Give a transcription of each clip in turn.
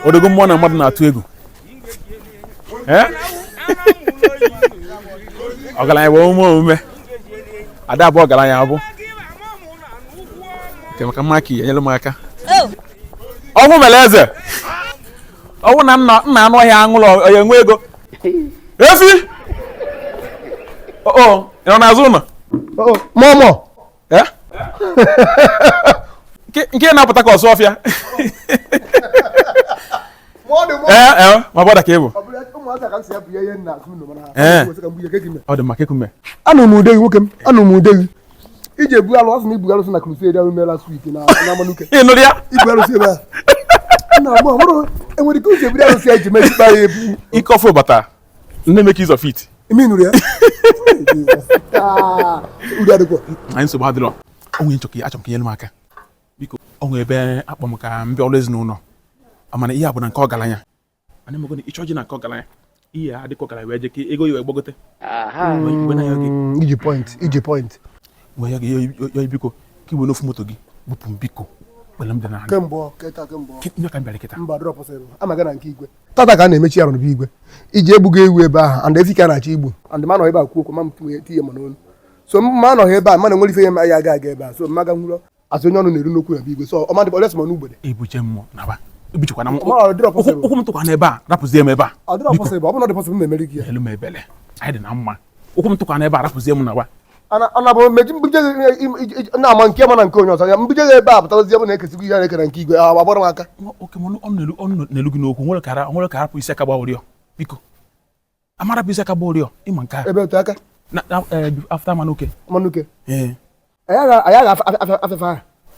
odogwu mmụọ na mmadụ na-atụ egwu ọgaranya bụ omume omume ada abụ ọgaranya abụ nke maka mma ka enyere m aka oh. ọnwụ mere eze ọnwụ na nna anụ ọhịa aṅụlọ onye nwe ego efi oh, oh, ị nọ n'azụ ụlọ mọmọ Eh? nke na-apụta ka ọsụ ọfịa eh, eh, my brother ka ị bụ ọ dị maka ekume anụ m ude gị nwoke m anụ m ude gị iji ebu alụ asị na ibu alụsị na crusade ahụ mere last week na Amanuke ị nụrụ ya ibu alụsị ebe a enwere ike uche ebu alụsị ya ji mechikpa ya ebu ike ọfụ bata nne make use of it ime nụrụ ya udo adịkwa anyị nsogbu adịrọ onwe nchọ ka achọ m ka nyere m aka biko o nwe ebe akpọ m ka m bịa ọrụ ezinụlọ mana ihe a bụ na nke ọgaranya mana emego na ịchọ ji na nke ọgaranya ihe a dịka ọgaranya wee je ka ego ya wee gbagote Wee na-ayọ gị Mm, iji point iji point wee yọ gị ya biko ka iwe n'ofu moto gị bupụ m biko ikpere m dị n'ala kemgbe ọ, kịta kemgbe ọ. ya ka m bịara kịta mba drọpụsịrị ama gị na nke igwe tata ka a na-emechi ya n'obi igwe iji egbugo ewu ebe ahụ and efi ka na-achọ igbu and ma nọ ebe a kwuo okwu ma m tinye mma n'olu so ma anọghị ebe a mana nwere ife ya ma ya aga aga ebe a so mmaga nwụrọ asị onye ọnụ na-eru n'okwu ya bụ igwe so ọ ma dịkwa unless ma n'ugbede ebuche mụ naba ebuchekwa na ụkwụ m tụkwa n'ebe a rapụzie m ebe a ọ dịrọ possible ọ bụrụ na ọ dị possible m na-emeri gị ya melu m ebele anyị dị na mma ụkwụ m tụkwa n'ebe a rapụzie m naba ana bụ meji mbuje na-ama nke mana nke onye ọzọ ya mbuje gị ebe a pụtazi ebe na-ekesigo ihe na-ekere nke igwe ahụ agbara m aka na-elu gị n'okwu nwere ka nwere ka hapụ isi aka gba ụrịọ biko ama rapụ isi aka gba ụrịọ ị ma nke a ebe otu aka e, after Amanuke Amanuke anyị aga afefa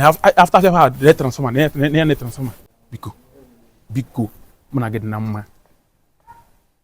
ha after afefa ha dee transformer na ya na transformer biko biko mụ na gị dị na mma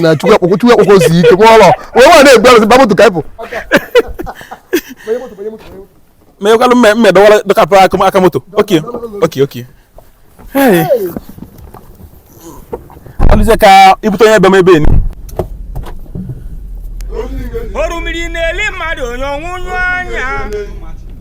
na chukwu akpụkpọ chukwu akpụkpọ si ike mụọ ụlọ wee nwa na-egbu arụsị ba moto ka ịpụ menyekwalụ mme mme dọwara dọkapụ aka aka moto okay okay okay Hey. alụzie ka ibute onye ebe m ebe enu orimiri na-eli mmadụ onye ọnwụnyụ anya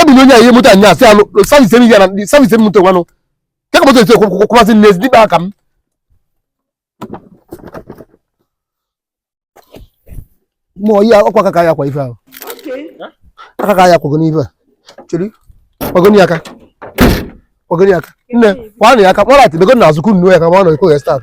ebili onye ihe moto anya asị alụ service emi gara service emi moto nwanụ nke ka moto esi kwụkwasị n'ezi dịkpa aka m mụọ ihe ọkwa aka ka ya kwa ife ahụ aka ka ya kwago n'ife a chiri kwagoni aka kwagoni aka nne kwanụ ya aka kpọrọ atị begoni na azụkwu nnu ya ka ma ọ nọ ikwe ya start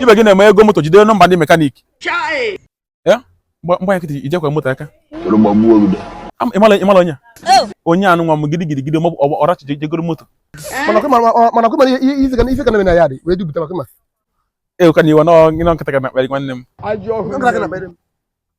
ibe gị na-eme i go moto jide nọmba ndị mekaniki mgbe nkịtị ijekwa moto aka ịmala onye oh. onye anụ nwa m gidi gidi gidi maọbụ ọrachi jegoro moto mana kwema ife ka na-eme na ya dị wee dupụta maka ma eweka na iwe nọ nkịtị ka na-akparị nwanne m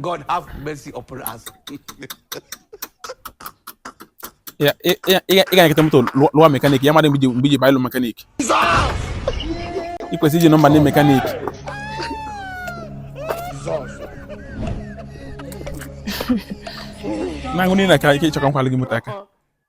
God have mercy upon us. Ya, ị ga- ị ga- ị ga-egote moto lụọ lụọ mekanik ya mara mgbe iji- mgbe i ji baa ịlụ mekanik ị kwesịrị iji nọmba ndị mekanik na-aṅụ niile ka ike ịchọ ka m kwalụ gị moto aka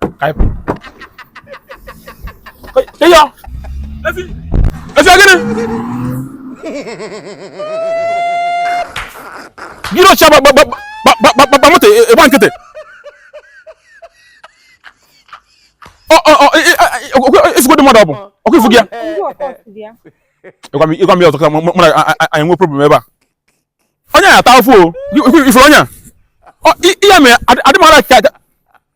ka anyị pụọ ịyọ efi efi gịnị gịnị ọcha gbagba moto ị gba nkịtị ị fụgodu mmadụ ọ bụ ọkụ ifu gị ya ị gwa m ya ọzọ ka mụ na gị nwee problem ebe a onye ya ata afụ o ifuru onye ya ihe mere adịmara ka